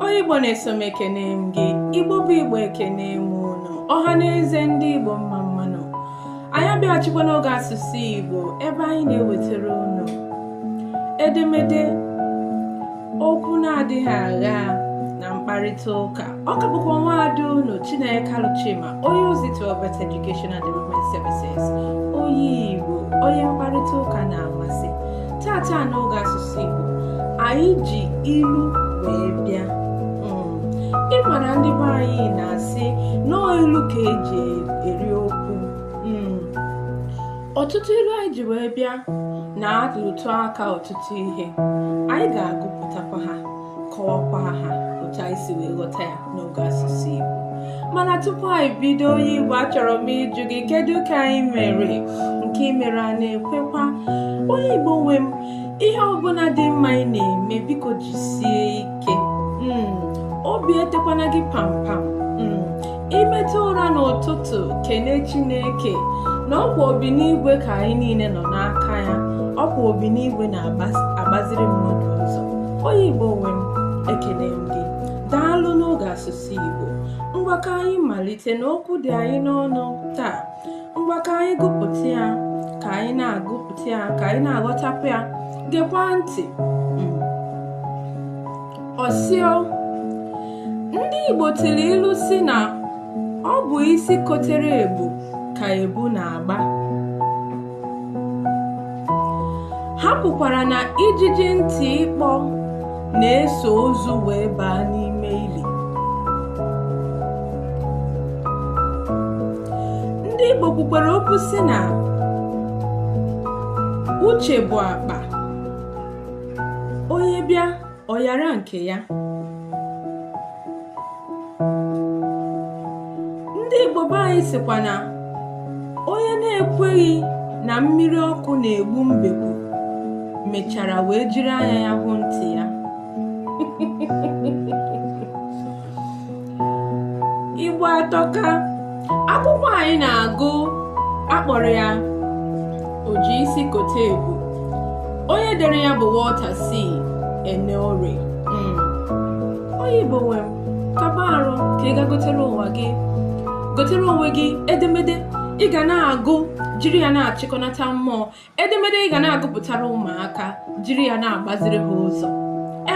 onye igbo na-eso m ekene m gị igbo bụ igbo ekene m unu ọha na eze ndị igbo mma mma nụ anyị abịaghachikwa n'oge asụsụ igbo ebe anyị na-ewetara unu edemede okwu na-adịghị agha na mkparịta ụka ọ ka bụkwa nwa ada unu Chineke Alụchima onye ozi to Ovet Education and Development Services onye Igbo onye mkparịta ụka na-amasị taata n'oge asụsụ Igbo anyị ji ilu wee bịa hmm. ị ma na ndị be anyị na-asị na ọ ilu ka e ji eri okwu hmm. ọtụtụ ilu anyị ji wee bịa na-arụtụ aka ọtụtụ ihe anyị ga-agụpụtakwa ha kọwakwa ha otu anyị si wee ghọta ya n'oge asụsụ Igbo mana tupu anyị bido onye Igbo achọrọ m ịjụ gị kedu ka anyị mere nke i mere a na-ekwekwa onye Igbo nwe m ihe ọbụla dị mma ị na-eme biko jisie ike hmm, obi etekwana gị pampam i teta ụra n'ụtụtụ kene chineke na ọ kwa obi n'igwe ka anyị niile nọ n'aka ya ọ kwa obi n'igwe na-agbaziri mmadụ ụzọ onye igbo nwe m ekene m gị daalụ n'oge asụsụ igbo ngwa ka anyị malite n'okwu dị anyị n'ọnụ taa ngwa ka anyị gụpụta ya ka anyị na-agụpụta ya ka anyị na-aghọtakwu ya gekwa ntị ọ sị o ndị Igbo tụrụ ilu sị na ọ bụ isi kotere ebu ka ebu na-agba ha kwukwara na ijiji ntị ikpo na-eso ozu wee baa n'ime ili ndị Igbo kwukwara okwu sị na uche bụ akpa onye bịa ọ nyara nke ya ndị Igbo be anyị sịkwa na onye na-ekweghị na mmiri ọkụ na-egbu mbekwu mechara wee jiri anya ya hụ ntị ya igbo atọka akwụkwọ anyị na-agụ a kpọrọ ya oji isi kote ebu onye dere ya bụ Walter C. Eneore hmm. onye igbo nwe m kaba arụ ka ị gaa gotere nwa gị gotere onwe gị edemede ị ga na-agụ jiri ya na-achịkọnata mmụọ edemede ị ga na-agụpụtara ụmụaka jiri ya na-agbaziri ha ụzọ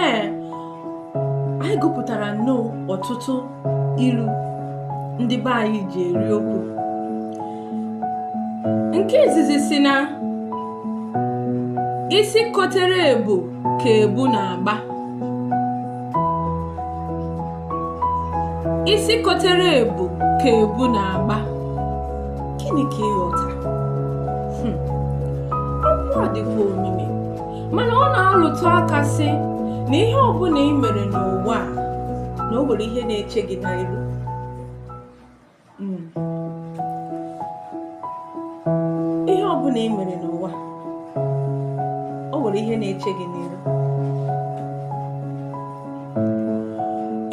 ee anyị gụpụtara nnọọ ọtụtụ ilu ndị be anyị ji eri okwu nke izizi sị na isi kotere ebu ka ebu na-agba isi kotere ebu ka ebu na-agba gịnị ka ị ghọta hmm. okwu a dịkwa omimi mana ọ na-alụtụ aka sị na ihe ọbụna ị mere n'ụwa a na o nwere ihe na-eche gị n'iru hmm. ihe ọ bụna ị mere n'ụwa o nwere ihe na-eche gị n'iru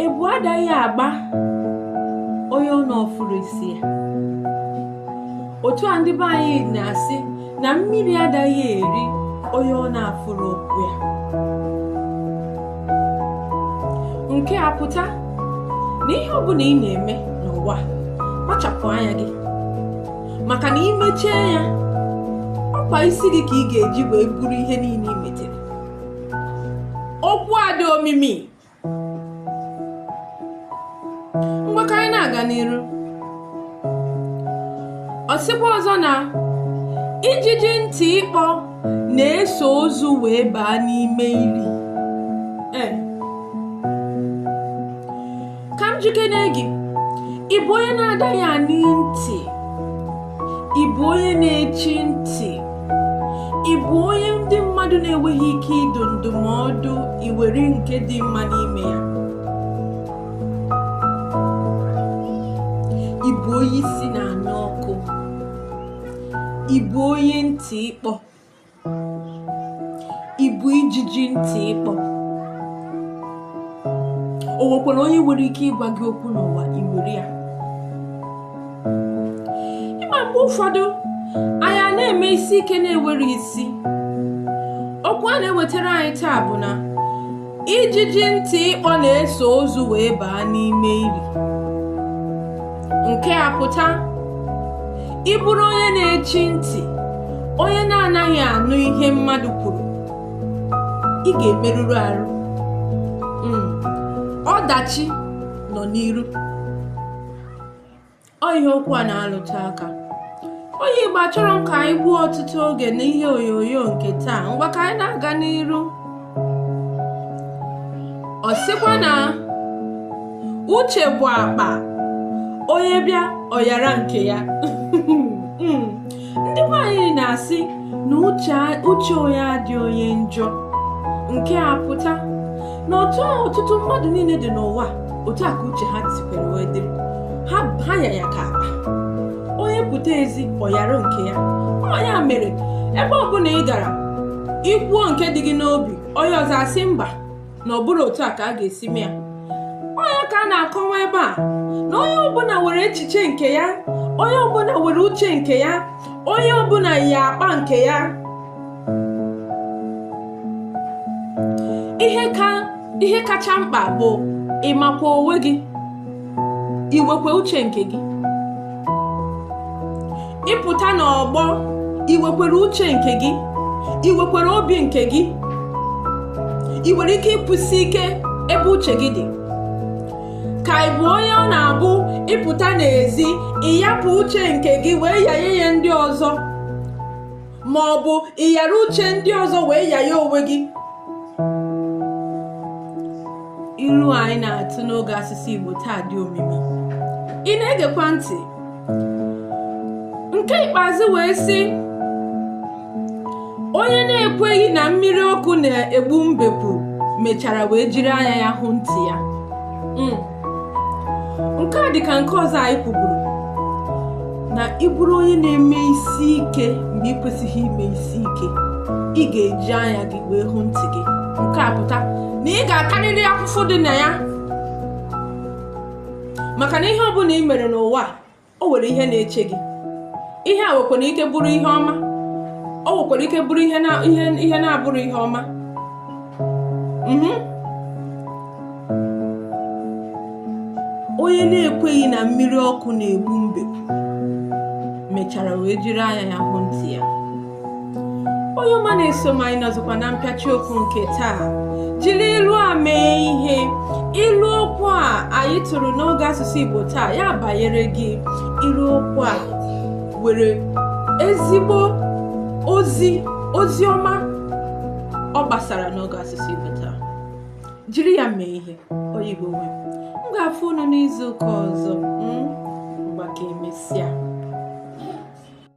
ebu adaghị agba onye ọ na-afụrọ isi ya otu a ndị be anyị na-asị na mmiri adaghị eri onye ọ na-afụrọ ụkwụ ya nke a pụta na ihe ọ bụna ị na-eme n'ụwa kpachapụ anya gị maka na i mechie anya ọkwa isi gị ka ị ga-eji wee buru ihe niine i metere okwu a dị omimi ngwa ka anyị na-aga n'iru ọ sịkwa ọzọ na ijiji ntị ịkpọ na-eso ozu wee baa n'ime ili eh. ka m jụkene gị ị bụ onye na-adaghị anụ ntị ị bụ onye na-echi ntị ị bụ onye ndị mmadụ na-enweghị ike ịdụ ndụmọdụ i were nke dị mma n'ime ya ị bụ onye isi na-anụ ọkụ ị bụ onye ntị ịkpọ ị bụ ijiji ntị ịkpọ o nwekwara onye nwere ike ịgwa gị okwu n'ụwa i were ya ị ma mgbe ụfọdụ anyị na-eme isi ike na-enwerọ isi okwu a na-ewetara anyị taa bụ na ijiji ntị ịkpọ na-eso ozu wee baa n'ime ili nke a pụta ị bụrụ onye na-echi ntị onye na-anaghị anụ ihe mmadụ kwuru ị ga-emerụrụ arụ hmm. ọdachi nọ n'iru ọ ihe okwu a na-alụtụ aka onye Igbo achọrọ m ka anyị gbuo ọtụtụ oge n'ihe onyonyo nke taa ngwa ka anyị na-aga n'iru ọ sịkwa na uche bụ akpa onye bịa ọ nyara nke ya hmm. ndị nwaanyị na-asị na uche onye adị onye njọ nke a pụta na otu ahụ ọtụtụ mmadụ niile dị n'ụwa otu a ka uche ha sikwa wee dịrị ha ya ya ka akpa onye pụta ezi ọ yara nke ya ọ ya mere ebe ọbụla ị gara i kwuo nke dị gị n'obi onye ọzọ asị mba na ọ bụrọ otu a ka a ga-esi mee ya ọ ya ka a na-akọwa ebe a na onye ọbụla nwere echiche nke ya onye ọbụla nwere uche nke ya onye ọbụla ya akpa nke ya ihe ka ihe kacha mkpa bụ ịmakwa onwe gị inwekwa uche nke gị ị pụta n'ọgbọ i wekwere uche nke gị i wekwere obi nke gị ị nwere ike ịkwụsi ike ebe uche gị dị ka ị bụ onye ọ na-abụ ị pụta n'ezi ị yapụ uche nke gị wee yaye ya ndị ọzọ ma ọ bụ ị yara uche ndị ọzọ wee ya ya onwe gị ilu anyị na-atụ n'oge asụsụ Igbo taa dị omimi ị na-egekwa ntị nke ikpeazụ wee sị onye na-ekweghị na mmiri ọkụ na-egbu mbekwu mechara wee jiri anya ya hụ ntị ya hmm. nke a dị ka nke ọzọ anyị kwuburu na ị bụrụ onye na-eme isi ike mgbe ị kwesịghị ime isi ike ị ga-eji anya gị wee hụ ntị gị nke a pụta na ị ga-atarịrị afụfụ dị na ya maka na ihe ọbụla ị mere n'ụwa o nwere ihe na-eche gị ihe a nwekwara ike bụrụ ihe ọma o nwekwara ike bụrụ ihe na-abụrọ ihe ọma mhm. onye na-ekweghị na mmiri ọkụ na-egbu mbe mechara wee jiri anya ya hụ ntị ya onye ọma na-eso m anyị nọzikwa na mpịachi okwu nke taa jiri ilu a mee ihe ilu okwu a anyị tụrụ n'oge asụsụ igbo taa ya banyere gị ilu okwu a nwere ezigbo ozi ozi ọma ọ gbasara n'oge asụsụ igbo taa jiri ya mee ihe onye igbo nwe m ga-afụ unu n'izu ụka ọzọ ngwa ka emesịa